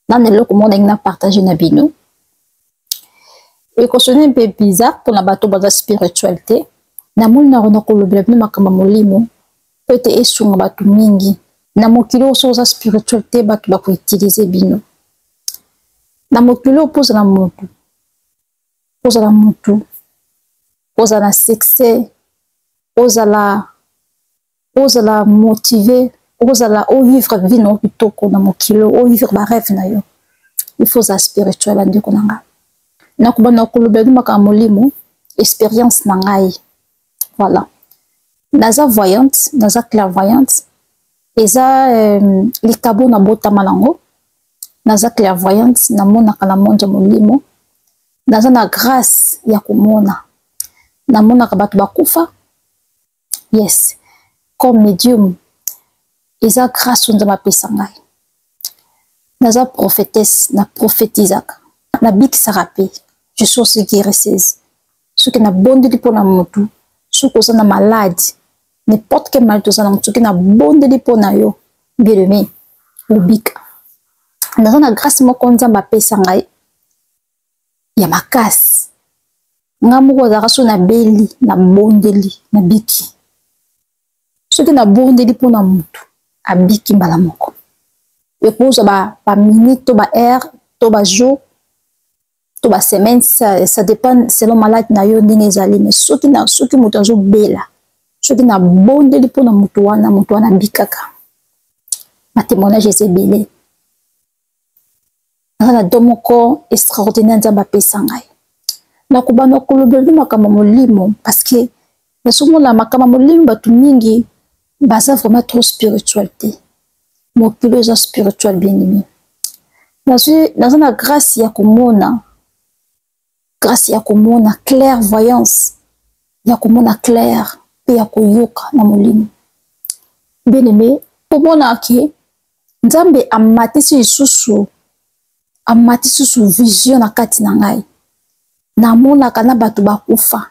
nana eloko moko ndenge na partage na bino ekosoni mpe bizarre mpona bato baza spirituel te namoni na kona kolobela bino makambo ya molimo mpo ete esunga bato mingi na mokili oyo soki oza spirituel te bato bakoutilize bino na mokili oyo mpo ozala motu ozala motu ozala na succès ozala ozala motive okozala ovivre vie na yo kitoko na mokili ovivre bareve na yo il faut ozala spirituel bandeko na ngai nakobanda koloba yango makambo molimo expérience na ngai voilà naza voyante naza clairvoyante eza euh, likabo na botama nango naza clairvoyante namonaka na monde ya molimo naza na grâce ya komona namonaka bato bakufa yes comme medium eza grâce oyo nzambe apesa ngai naza prophétesse na prophétisaka nabikisaka mpe je suis aussi guérisseuse soki nabondeli mpo na motu soki oza na malade n'importe quel malade oza na motu soki nabondeli mpo na yo bien aimé obika naza na grâce moko nzambe apesa ngai ya makasi nga moko azalaka so nabeli nabondeli nabiki soki nabondeli mpo na motu abiki mbala moko ekozwa baminute to baheure to bajour to basemaine ça, ça dépend selon malade na yo ndenge ezali me soki, na, soki moto azobela soki nabondeli mpo na moto wana moto wana abikaka batemoignage eza ebele naza na do moko extraordinaire nzambe apesa ngai nakobanda kolobeleli makambo molimo parceke nazomona makambo molimo bato mingi baza vraiment trop spirituel te mokili oyo eza spirituel bien aimé naza na grâce ya komona grâce ya komona clairvoyance ya komona claire mpe ya koyoka na molimo bien-aime omona ke nzambe amatisi lisusu amatisi lisusu vision na kati na ngai namonaka na bato bakufa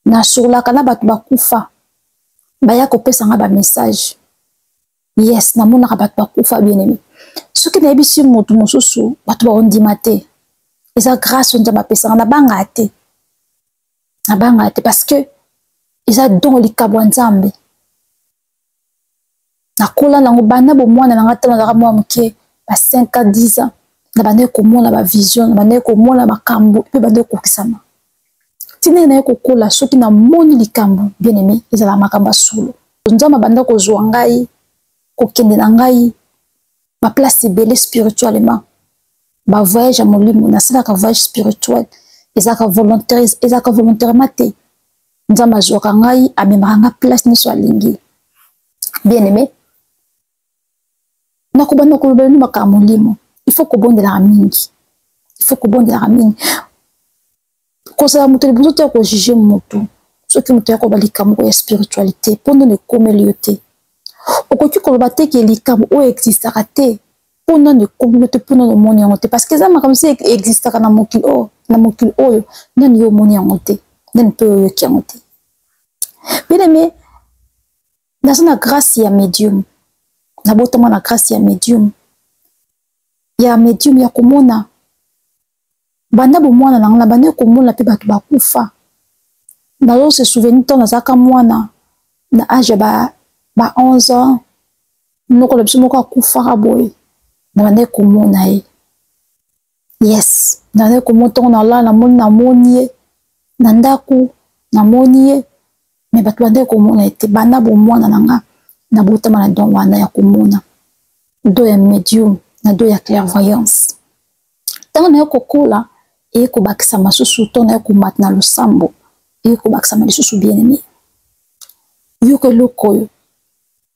nasololaka na bato bakufa baya kopesa ngai bamessage yes namonaka bato bakufa bien aime soki nayebisi moto mosusu bato baondima te eza grâce oyo nzambe apesaka nabangaka te nabangaka te parce que eza don likambo ya nzambe nakola nango banda bomwana na ngai ntango nazalaka mwa moke ba 5 ans 10 ans nabandaki komona bavision nabandaki komona makambo mpe bandaki kokisama ntina ye naye kokola soki namoni likambo bien aime ezala makambo ya solo nzambe abanda kozwa ngai kokende na ngai baplace ebele spirituellement bavoyage ya molimo nasalaka voyage spirituel ezalaka volontaire ezalaka volontairement te nzambe azwaka ngai amemaka ngai place nyonso alingi bien aime nakobanda koloba bino makambo molimo il faut kobondelaka mingi il faut kobondelaka mingi kozala moto liboso te ya kojuge motu soki moto ya koba likambo moko ya spiritualité mpo nde nekomeli yo te okoki koloba te ke likambo oyo existaka te mpo nano ekomino te mpo nano omoni yango te parce que eza makambo si existaka na mokili oyo oh, na mokili oyo nani yo omoni yango te nani mpe oyoki yango te bien aime naza na grâce ya medium nabotama na grâce ya medium ya medium ya komona banda bomwana na nga na banda komona mpe bato bakufa nazo se souvenir ntango nazalaka mwana na age ya ba, ba 11 ans noko na biso moko akufaka boye na bandaki komona ye yes nazali komona ntongo nalala namoni namoni ye na ndako namoni ye me bato bandaki komona ye te banda bomwana na nga nabotama na don wana ya komona do ya medium na do ya clairvoyance ntango naye kokola eye kobakisa masusu to naye komata na losambo eye kobakisama lisusu bien aime yoka eloko oyo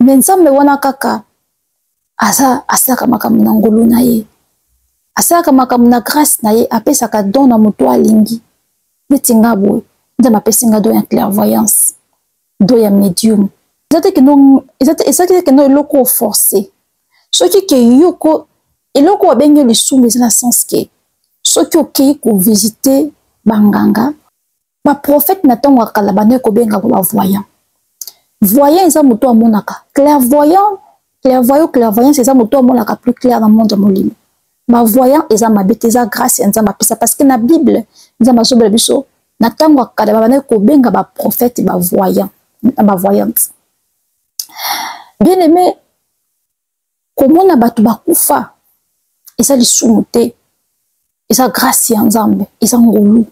me nzambe wana kaka aza asalaka makambo na ngolu na ye asalaka makambo na grâce na ye apesaka don na moto alingi neti nga boye nzambe apesi nga don ya clairvoyance don ya medium eza te keno ezalaki te keno eloko oforce soki ke yoko eloko babengi lisumu eza na sens ke soki okei kovisite banganga baprofete na ntango ya kala bandaki kobengaka bavoyant voyant eza moto amonaka clairvoyant clairvoyant clairvoyance eza moto amonaka plus clair na monde ya molimo bavoyant eza mabe te eza grâce ya nzambe apesa parce que na bible nzambe azobela biso na ntango ya kala babandaki kobenga baprofete bavoyant na bavoyante bien aimé komona bato bakufa eza lisumu te eza grâce ya nzambe eza ngolu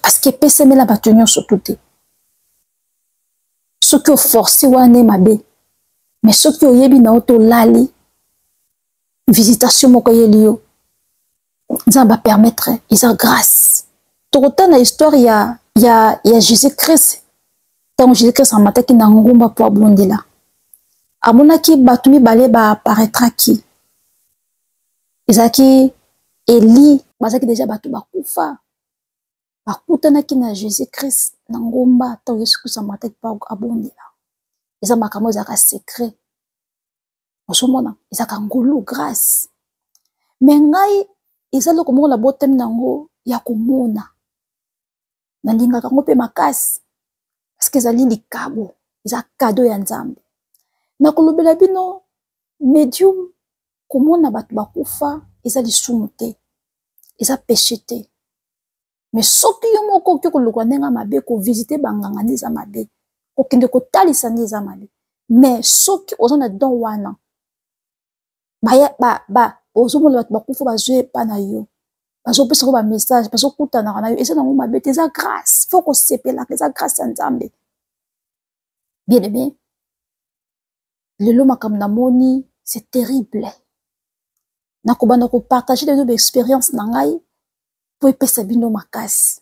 parceke epesemela bato nyonso tu te soki oforce wana mabe me soki oyebi na yo tolali visitation moko eyeli yo nzambe apermettre eza grâce tokota na histoire ya, ya, ya jésus christ ntango jésus christ amataki na ngomba mpo abondela amonaki bato mibale baaparetraki ezalaki eli bazalaki deja bato bakufa bakutanaki na jésus christ na ngomba ntango yesu kristo amataki mpo abondela eza makambo ezalaka secret ozomona ezalaka ngolu grace me ngai eza eloko moko na botemi na yango ya komona nalingaka yango mpe makasi parceke ezali likabo eza kado ya nzambe nakolobela bino medium komona bato bakufa eza lisumu te eza peshe te me soki yo moko okoki koluka ndenge ya mabe kovisite banganga nde eza mabe kokende kotalisa nde eza mabe me soki oza na don wana ozomona bato bakufa bazwi epa na yo bazopesa ngo bamessage bazokutanaka na yo eza nango mabe te eza grâce fo kosepelaka eza grâce ya nzambe bien aime lelo makambo namoni c'est terrible nakobanda kopartage lelo baexperience na ngai mpo epesa bino makasi